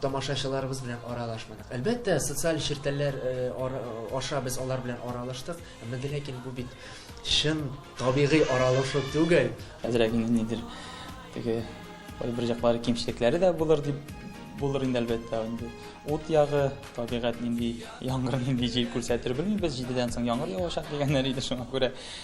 Тамашачыларыбыз белән аралашмадык. Әлбәттә, социаль челтәрләр аша без алар белән аралаштык, әмма дә ләкин бу бит чын табигый аралашу түгел. Әзрәк инде нидер теге бер яклары кимчелекләре дә булыр дип булыр инде әлбәттә инде. Ут ягы, табигать нинди яңгыр, нинди җил күрсәтер белмибез. Җидедән соң яңгыр явачак дигәннәр иде, шуңа күрә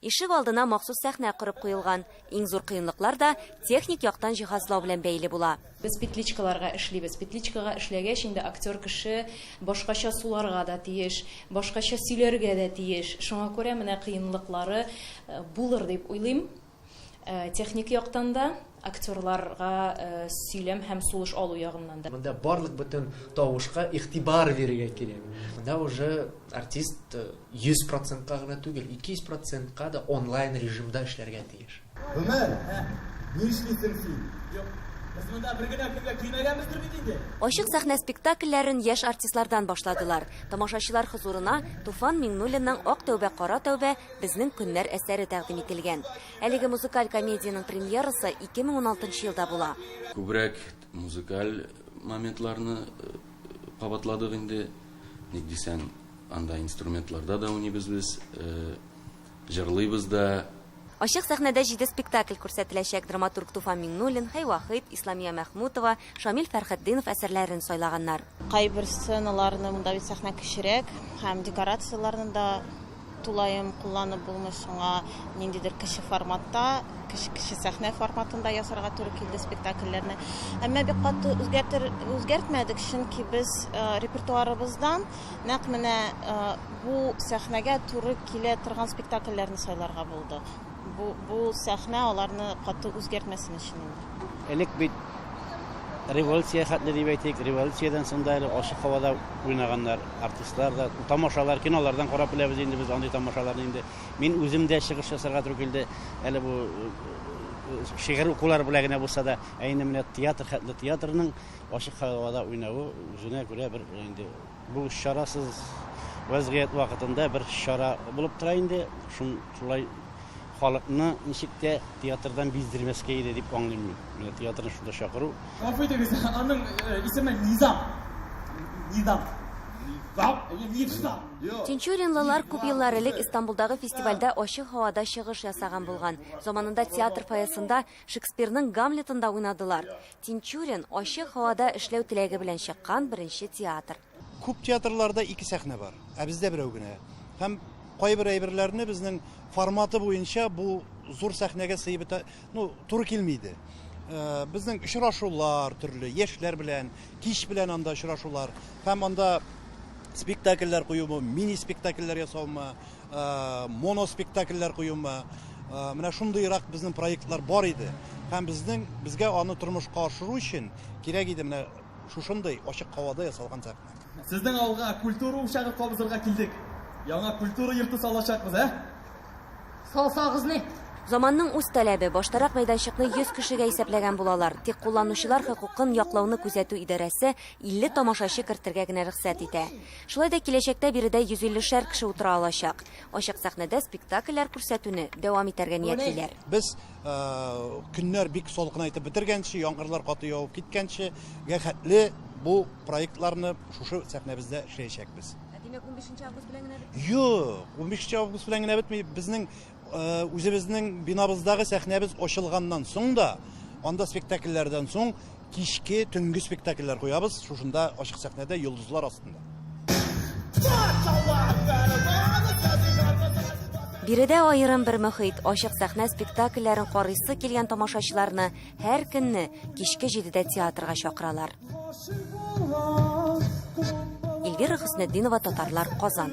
Ишек алдына махсус сәхнә корып куелган. Иң зур кыенлыклар да техник яктан җиһазлау белән бәйле була. Без петличкаларга эшлибез. Петличкага эшләгәч, инде актер кеше башкача суларга да тиеш, башкача сөйләргә дә тиеш. Шуңа күрә менә кыенлыклары булыр дип уйлыйм техник яктан да. Актерларга сөйләм һәм сулыш алу ягыннан да. Монда барлык бөтен тавышка игътибар бирергә кирәк. Монда уже артист 100 процентка гына түгел, 200 процентка да онлайн режимда эшләргә тиеш. Гомәр, ни эшлисең син? Юк, без монда бер генә көнгә килмәгәнбездер бит инде? Ачык сәхнә спектакльләрен яшь артистлардан башладылар. Тамашачылар хозурына Туфан Миңнуллинның Ак тәүбә, кара тәүбә, Безнең көннәр әсәре тәкъдим ителгән. Әлеге музыкаль комедиянең премьерасы 2016 елда була. Күбрәк музыкаль моментларны кабатладык инде. Ник дисәң, анда инструментларда да уйныйбыз без, җырлыйбыз да. Ачык сәхнәдә җиде спектакль күрсәтеләчәк, драматург Туфан Миңнуллин, Хәйвахыйт, Исламия Мәхмүтова, Шамил Фәрхетдинов әсәрләрен сайлаганнар. Кайбер сценаларны, монда бит сәхнә кечерәк һәм декорацияләрне дә тулаем кулланып булмый, шуңа ниндидер кече форматта, кече сәхнә форматында ясарга туры килде спектакльләрне. Әмма бик каты үзгәртер, үзгәртмәдек, чөнки без э, репертуарыбыздан нәкъ менә э, бу сәхнәгә туры килә торган спектакльләрне сайларга булдык. Бу, бу сәхнә аларны каты үзгәртмәсен өчен инде. Элек бит революция хәтле дип әйтик, революциядән соң да әле ачык һавада уйнаганнар артистлар да, тамашалар, кинолардан карап беләбез инде без андый тамашаларны инде. Мин үзем дә чыгыш ясарга туры килде, әле бу шигырь укулар белән генә булса да, ә инде менә театр хәтле театрның ачык һавада уйнавы үзенә күрә бер инде Бу чарасыз вәзгыять вакытында бер чара булып тора инде. Шун шулай халыкны ничек тә театрдан биздермәскә иде дип аңлыйм мин. Менә театрны шунда чакыру. Гафу итегез, аның э, исеме Низам. Низам. Низам? Әйе, Низам. Тинчуринлылар күп еллар элек Истанбулдагы фестивальдә ачык һавада чыгыш ясаган булган. Заманында театр фойесында Шекспирның Гамлетында уйнадылар. Тинчурин, ачык һавада эшләү теләге белән чыккан беренче театр. Күп театрларда ике сәхнә бар, ә бездә берәү генә. Һәм кайбер әйберләрне безнең форматы буенча бу зур сәхнәгә сыеп бетә, ну, туры килми иде. Безнең очрашулар төрле, яшьләр белән, кич белән анда очрашулар һәм анда спектакльләр куюмы, мини-спектакльләр ясаумы, моноспектакльләр куюмы, менә шундыйрак безнең проектлар бар иде. Һәм безнең, безгә аны тормышка ашыру өчен кирәк иде менә шушындый ачык һавада ясалган сәхнә. Сезнең авылга культура учагы кабызырга килдек. Яңа культура йорты салачакбыз, ә? Салсагыз ни? Заманның үз таләбе, баштарак мәйданчыкны 100 кешегә исәпләгән булалар, тик кулланучылар хокукын яклауны күзәтү идарәсе 50 тамашачы кертергә генә рөхсәт итә. Шулай да киләчәктә биредә 150 шәр кеше утыра алачак. Ачык сәхнәдә спектакльләр күрсәтүне дәвам итәргә ниятлиләр. Без көннәр бик салкынайтып бетергәнче, яңгырлар каты явып киткәнче гә хәтле бу проектларны шушы сәхнәбездә эшләячәкбез. Ә димәк, унбишенче август белән генә бетми? Юк, унбишенче август белән генә бетми. Безнең Үзебезнең бинабыздагы сәхнәбез ачылганнан соң да, анда спектакльләрдән соң кичке, төнге спектакльләр куябыз, шушында ачык сәхнәдә йолдызлар астында. Биредә аерым бер мөхит, ачык сәхнә спектакльләрен карыйсы килгән тамашачыларны һәр көнне кичке җидедә театрга чакыралар. Эльвира Хөснетдинова, Татарлар, Казан.